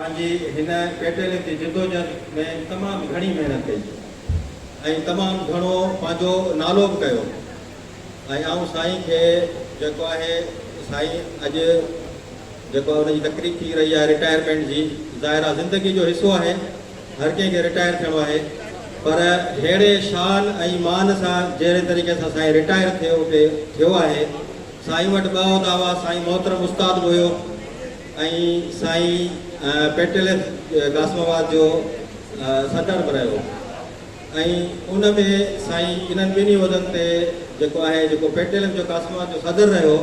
پنهنجي هن پيٽيل جي جدوجهد ۾ تمام گهڻي محنت ڪئي ۽ تمام گهڻو پنهنجو نالو به ڪيو ۽ آئون سائين کي جيڪو آهي سائين اڄ جيڪو ان جي تقريب ٿي رهي آهي رٽائرمينٽ جي ظاهر آهي زندگي جو حصو آهي هر ڪنهن کي رٽائر ٿيڻو آهي پر ههڙي شان ۽ مان سان جهڙي طريقي سان سائين رٽائر ٿئي اتي ٿيو آهي سائين وٽ ٻه عهدا هئا سائين محترم استاد به هيو ۽ سائين پيٽليس قاسم آباد جو صدر به رهيو ۽ ان ۾ سائين انهن ٻنهي عهدن تي جيڪو آهي جيڪو پيٽليس جو قاسم آباد جو صدر رهيو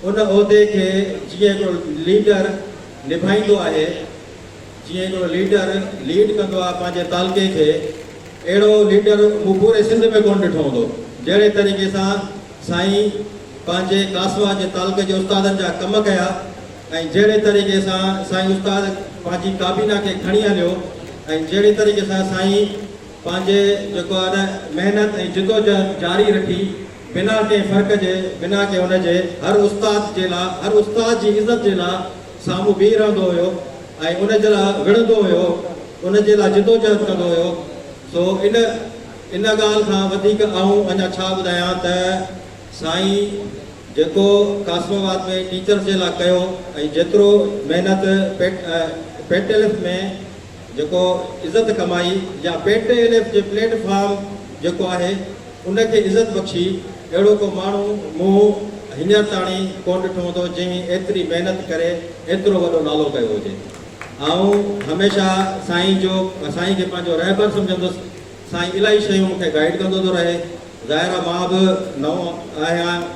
ان عهدي کي جيئن هڪڙو ليڊر نڀائيندو آهي جيئن جو ليڊر ليڊ ڪندو آهي پنهنجي تعلقي کي اهڙو ليڊر مون پوري سنڌ ۾ ڪونه ڏٺو هوندو جهڙي طريقي سان سائين پنهنجي ڪاسوا جي تعلقي جي استادن جا ڪم ڪيا ۽ جهڙي طريقي سان سائين استاد پنهنجي ڪابينا کي کڻي هليو ۽ جهڙي طريقي سان سائين پنهنجي جيڪو آهي نه محنت ۽ جدوجهد جاري رکي بنا ڪنهن فرق جي بنا ڪنهن ان جي هر استاد جي لا هر استاد جي عزت جي لا سامهون بيهي رهندو هيو ۽ ان جي لاء وڙهندو هيو، ان جي لاء جدوجهد ڪندو هيو، سو ان ان ڳالهه کان وڌيڪ آئون اڃا ڇا ٻڌايان ته سائين جيڪو قاسم آباد ۾ ٽيچرس جي لاء ڪيو ۽ جيترو محنت پيٽ پيٽلف ۾ جيڪو عزت ڪمائي يا پيٽ الف جي پليٽ فارم جيڪو آهي ان کي عزت بخشي اهڙو ڪو ماڻهو مون هينئر تاڻي ڪونه ڏٺو هوندو جنهن ايتري محنت ڪري ايترو وڏو نالو ڪيو هجي آئون هميشه سائين جو سائين کي پنهنجو رهبر سمجهندس سائين الاهي شيون مون کي گائيڊ ڪندو ٿو رهي ظاهر آهي مان به نئون آهيان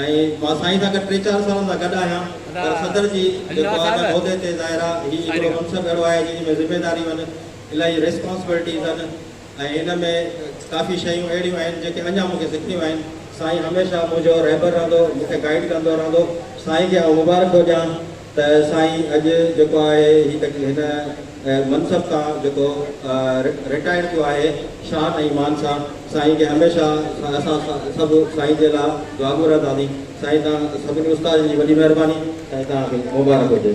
۽ مان سائين سان گڏ ٽي چار سالن کان گڏ آهيان پر صدر جي جيڪو آهي نه عهدي تي ظاهر آهي هي هڪڙو منصب اهڙو آهي جنهن ۾ ذميداريون آهن الاهي ريسپانسبلٽيز آهن ۽ ان ۾ ڪافي شيون اهڙيون آهن جيڪي اڃا مون کي سکڻيون آهن. سائين هميشه منهنجو رهبر رهندو مون کي گائيڊ ڪندو رهندو سائين کي آئون مبارڪ ٿو ڏيان. ته سائين اڄ جيڪو آهي هي ته هن منصب تان جيڪو رٽائرڊ ٿيو آهي شان ۽ مان سان سائين کي هميشه اسان سڀ سائين جي لا دعاگو رهنداسين سائين توهان سڀني استادن جي وڏي مهرباني سائين توهان کي مبارڪ هجي.